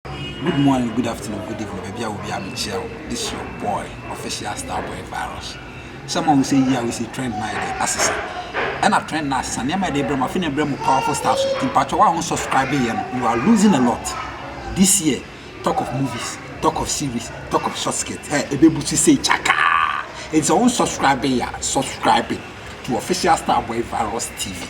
Good morning, good afternoon, good evening, baabi a obi a mekyia wo. This your boy, official star boy virus. Sɛ ma wo sɛ yi a wo sɛ trend na yɛde asesa. Ɛna trend na asesa nneɛma yɛde brɛ mu afei na brɛ mu powerful star so. Nti mpatwa wo a wo subscribe yɛ no, you are losing a lot. This year, talk of movies, talk of series, talk of short skirt. Hey, ebe busu say chakaa. It's a unsubscribe ya. Subscribe to official star boy virus TV.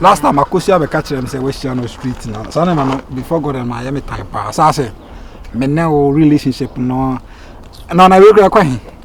last time akosua bɛka kyerɛ m sɛ woahyia no street na saa nneɛma no before god and mayɛ me tan paa saa sɛ mene wo relationship no na ɔna wei kora kɔ he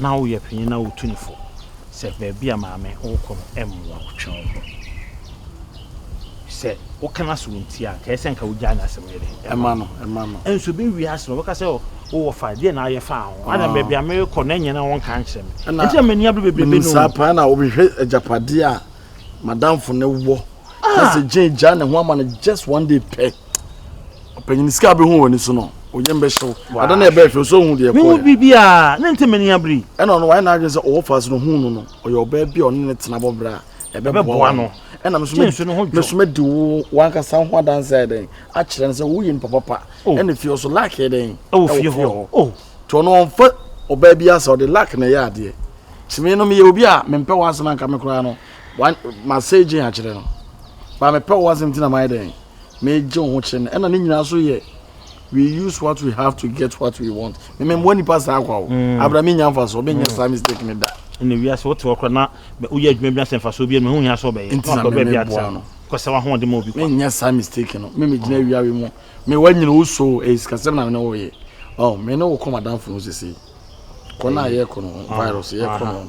na woyɛ panyin na wotu no fo sɛ baabi a maame wokɔ no mmoa wo. Twe wo ho. Sɛ woka no ase wontie a, nka ɛyɛ sɛ nka wogyae no asɛm yɛ dɛn? Ɛma no. Ɛma no. Nso bi wie ase no, wɔbɛka sɛ wowɔ fa, deɛ na ayɛ faa ho. Ana baabi a merekɔ no ɛnyɛ na wɔnka nkyerɛ me. Ɛnti na m'ani abere bebrebe no. Saa paa na wobɛhwɛ agyapadeɛ a madamfo no wɔ. Sɛ gye gyaa ne ho ama no just one day pɛ. ɔpanyin sika a bɛhu wɔ ani so no onyam bɛhyɛ wo ada na ɛbɛɛ hwɛ so hu deɛ mehu biribiaa ne nte m'ani abere ɛna ɔno wayɛ n'adwene sɛ ɔwɔ fa so no hu no no ɔyɛ ɔbaa bi a ɔne ne tena bɔberɛ a ɛbɛboa no ɛna meso mɛdi wo wankasa ho adanse ayɛ dɛn akyerɛ no sɛ woyɛ nipa papa oh. ɛna fie hɔ so lak yɛ dɛn ɛwɔ fie hɔ oh. nti ɔno ɔmfa ɔbaa bi asɛ ɔde lak na ɛyɛ adeɛ tumi no meyɛ obi a mempɛ wɔ asɛm anka me koraa no masɛ gyen akyerɛ no baa mepɛ wɔ asɛm nti na mayɛ dɛn meegye wo ho kyerɛ no ɛna ne nyinaa so yɛ we use what we have to get what we want meme mmoa nipa saa kwa o mm. abra me nya mfasoɔ menyɛ mm. saa mistake ne da ɛna wiase wote hɔ kora na woyɛ adwuma bi asɛ mfasoɔ bi ɛno ho hia sɛ ɔbɛyɛ nti na memeboa no kɔsɛ wahoɔde ma obi kwa menyɛ saa mistake no me megyina mm. awiawe mu me wanyina wo so ɛyɛ sikasɛm na mene woyɛ oh, me ne wo kɔ madamfo no sesei kɔ no a yɛkɔ no ah, virus yɛkɔ no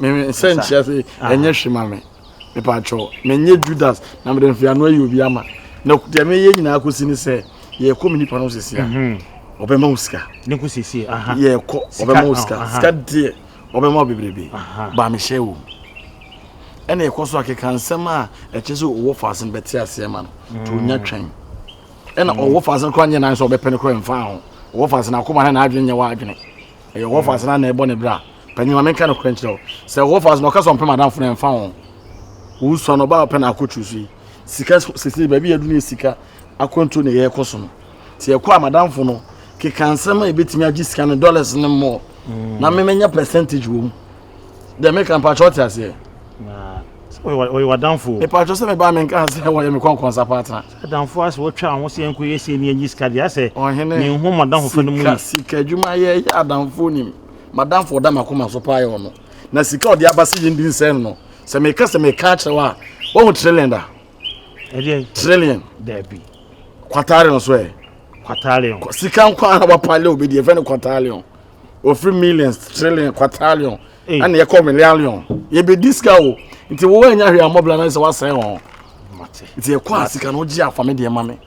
Me nsa nkyerɛ ase ɛnyɛ hwe ma me. Mepa atwɔ. Menyɛ Judas na mede mfeano ayi obi ama. Na deɛ meyɛ nyinaa kɔsi ne sɛ yɛkɔ me nipa no sisi a ɔbɛma wo sika. Ne ko sisi aha. Yɛkɔ ɔbɛma wo sika. Sika deɛ ɔbɛma wo bebrebe. Ba mehyɛ wo. Ɛna ɛkɔ so akeka nsɛm a ɛkyɛ sɛ ɔwɔ faase no bɛte aseɛ ma no. To nya twɛn. Ɛna ɔwɔ faase no kora nyɛ nan sɛ ɔbɛpɛ no kora mfa ho. Ɔwɔ faase no akoma na n'adwene nyɛ w'adwene. Ɛyɛ ɔwɔ faase no na ɛbɔ ne bra. Panyin ma menka nokorɛ nkyerɛ wo, sɛ wo wɔfa so na ɔka sɛ ɔmpɛ madamfo no a, ɛmfa ho. Wosua no, ɔbaa pɛ na akɔ tiri so yi. Sika sesei baabi yɛadu no yɛ sika akwantuo na yɛrekɔ so no. Sɛ yɛkɔ a madamfo no keka nsɛm a ɛbɛtumi agye sika no dollars no mmɔɔ na me menya percentage wɔ mu. Deɛ meka mpakyɛ ɔte aseɛ. Ɔyɛ wadamfo. Mpakyɛ sɛ mebaa menka sɛ wɔyɛ me kɔnkɔnsa paatena. Adamfo asɛ wɔtwa ho sɛ yɛnkɔ yɛ sei ne yɛnyi sika deɛ asɛ menhu madamfo fa no mu yi. Sika adwuma yɛyɛ adamfo nim. M'adamfo a ɔda m'akoma so paa yɛ ɔno. Na sika a ɔde aba sɛ yɛndi nsɛe no no, sɛ meka sɛ meka akyerɛ wo a, woahu trillion da? Trillion. Dabi. Quatarion so ɛ. Quatarion. Sika nko ara wapa leo bi deɛ ɛfɛ no quatarion. Ofiri millions, trillion, quatarion. Ɛna yɛkɔ million. Yɛbɛdi sika o. Nti wo anya hwee amɔbla na sɛ woasɛe wɔn. Nti yɛkɔ a sika no wogye afa me deɛ ma me.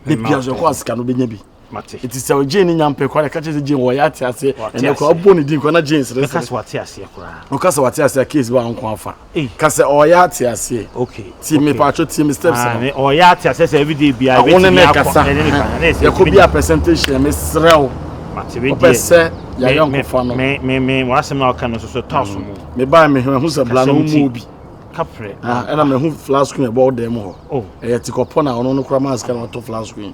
Debi aso yɛkɔ a sika no bɛnya bi. mate nti sɛ ɔgye ne nyampɛ kora ka kyerɛ sɛ gye wɔyɛ ate aseɛ ɛnɛ kora ɔbɔ ne din kora na gye nsere sɛ sɛ wate aseɛ koraa ɔka sɛ wate aseɛ case ba nko afa ka sɛ ɔyɛ ate aseɛ okay tie me paatwo tie me steps no ɔyɛ ate aseɛ sɛ everyday bia ɛbɛtumi akɔ ne ne kasa yɛkɔ bi a percentage yɛ mesrɛ wo wopɛ sɛ yɛayɛ nkɔfa no me me me wɔasɛm na ɔka no so so tɔ so mu me baa me ho sɛ bla no mu obi kaprɛ ɛna me ho flask yɛ bɔ dɛm hɔ ɛyɛ tikɔpɔ na ɔno no kora mask na ɔtɔ flask yi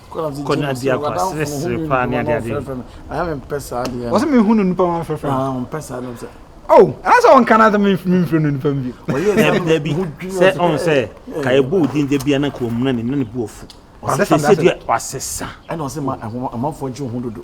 kɔ ne adeɛ akɔ aseresere paa ne adeɛ adeɛ wɔsɛ mehu no nipa ma mfrɛfrɛ oh ɛna sɛ ɔnka no sɛ memfrɛ no nipa mu bio dabi sɛ ɔn sɛ ka ɛbɔ wo din da bia na ka ɔmuna ne na ne bu ɔfu wasesa ɛna ɔsɛ ma amanfoɔ gye wo ho dodo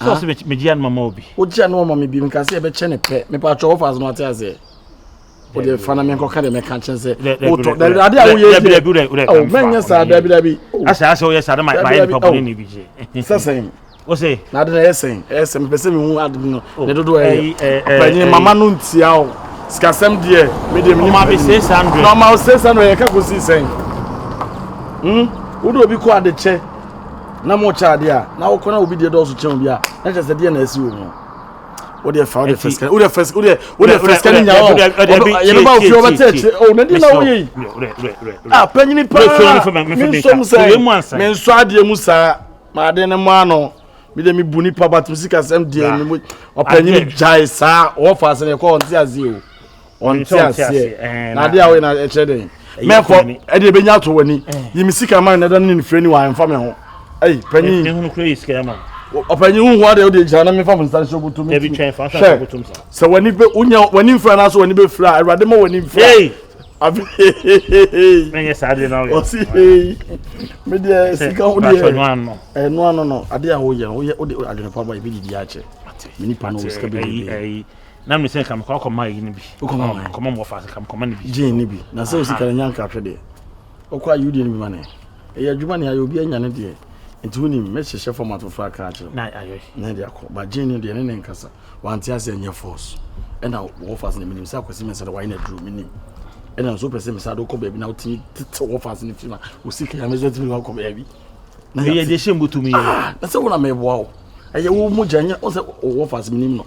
sɛ ɔsɛ megye ano mama obi wogye ano ɔma me bi meka sɛ yɛbɛkyɛ ne pɛ mepa atwɛ wo faase no ate aseɛ wode fa na menkɔka deɛ mɛka kyɛn sɛ wotɔ dabi adeɛ a woyɛ deɛ mɛnyɛ saa dabi dabi asɛ asɛ woyɛ saa na mayɛ nipa bɔne ne bi gye sɛ sɛn wose na ade na ɛyɛ sɛn ɛyɛ sɛn mepɛ sɛ mehu ade no ne dodoɔ ɛyɛ ɔpanyin mama no ntia o sikasɛm deɛ medeɛ menim ɔma bi 600 na ɔma 600 yɛka kɔsii sɛn wode obi kɔ adekyɛ na mo kyɛ adeɛ a na wokɔ na obi deɛ dɔɔso kyɛn obi a na kyɛ sɛ deɛ na asi wɔ mu wodeɛ fa wodeɛ fɛsikɛ wodeɛ fɛs wodeɛ wodeɛ fɛsikɛ ne nyaa ɔno yɛbɛba ofie ɔbɛtɛ akyire o na deɛ na woyɛ yi a panyini paa me nsom sɛ me nsɔ adeɛ mu saa ma adeɛ ne mo ano mi de mi bu nipa ba tumi sika sɛm deɛ mi mu ɔpanyini gyae saa ɔwɔ faase ne ɛkɔ ɔnte aseɛ o. ɔnte aseɛ na adeɛ a woyɛ na ɛkyerɛ dɛn mɛkɔ ɛdeɛ ɛbɛnya ato w'ani yi me sika ma nɛda ne nefrɛ ni wɔ amfa me ho ɛyi panyin ɔpanyin huhu adeɛ wode gyina na mefa mo nsa nhyɛ wobotom hwɛ sɛ w'ani bɛ wonya w'ani mfira anaasɛ w'ani bɛfira a awurade ma w'ani mfira menyɛ saa adeɛ na woyɛ ɔsi hei medeɛ sika wo deɛ ɛno ano no adeɛ a woyɛ no woyɛ wode adwene pa ba yɛbɛdidi akyɛ me nipa no wɔ sika bɛdidi na mi sɛ nka mekɔ akɔma ayi no bi Wokɔma wɔn? kɔma mu wɔfa ase nka mekɔma no bi gyee ne bi na sɛ wo sika no nya nkratwe deɛ wokɔ a yiwdeɛ no bi ma ne ɛyɛ adwuma ne ayɛ obi anya ne deɛ nti wonim mɛhyehyɛ format foforɔ akra akyerɛ na ayɛ na ɛde akɔ ba gyee no deɛ ne ne nkasa wante ase ɛnyɛ force ɛna wɔfa ase na menim sɛ akwasi mɛsɛ dɛ wayɛ no aduro menim ɛna nso wopɛ sɛ mesade wokɔ baabi na wotumi tete wɔfa ase no firi ma wo sika ya mɛsɛ tumi wakɔ baabi na yɛde hyɛ mbotumi yɛ na sɛ wona meboa wo ɛyɛ wo mogya nyɛ wo sɛ wɔfa ase menim no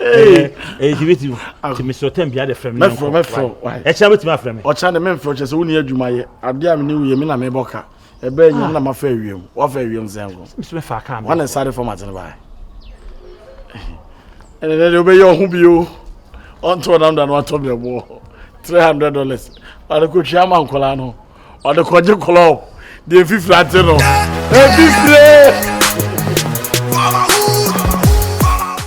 ɛyɛ debate mu nti mesɛ ɔtɛm bia de frɛ me mɛfrɛ mɛfrɛ ɛkyɛ wobɛtumi afrɛ me ɔkyɛ de memfrɛ kyɛ sɛ wonni adwuma yɛ adeɛ a mene woyɛ me na mebɔ ka ɛbɛɛ nyɛ na mafa awiam wafa awiam sɛ nko mesomɛfa ka wane sare format no baɛ ɛne dɛ deɛ wobɛyɛ ɔho bio ɔnto ɔnam da no atɔ brɛboɔ 300 dollars ɔde kɔtwia ma nkɔla no ɔde kɔgye kɔlɔb deɛ mfifiri ate no ɛfifire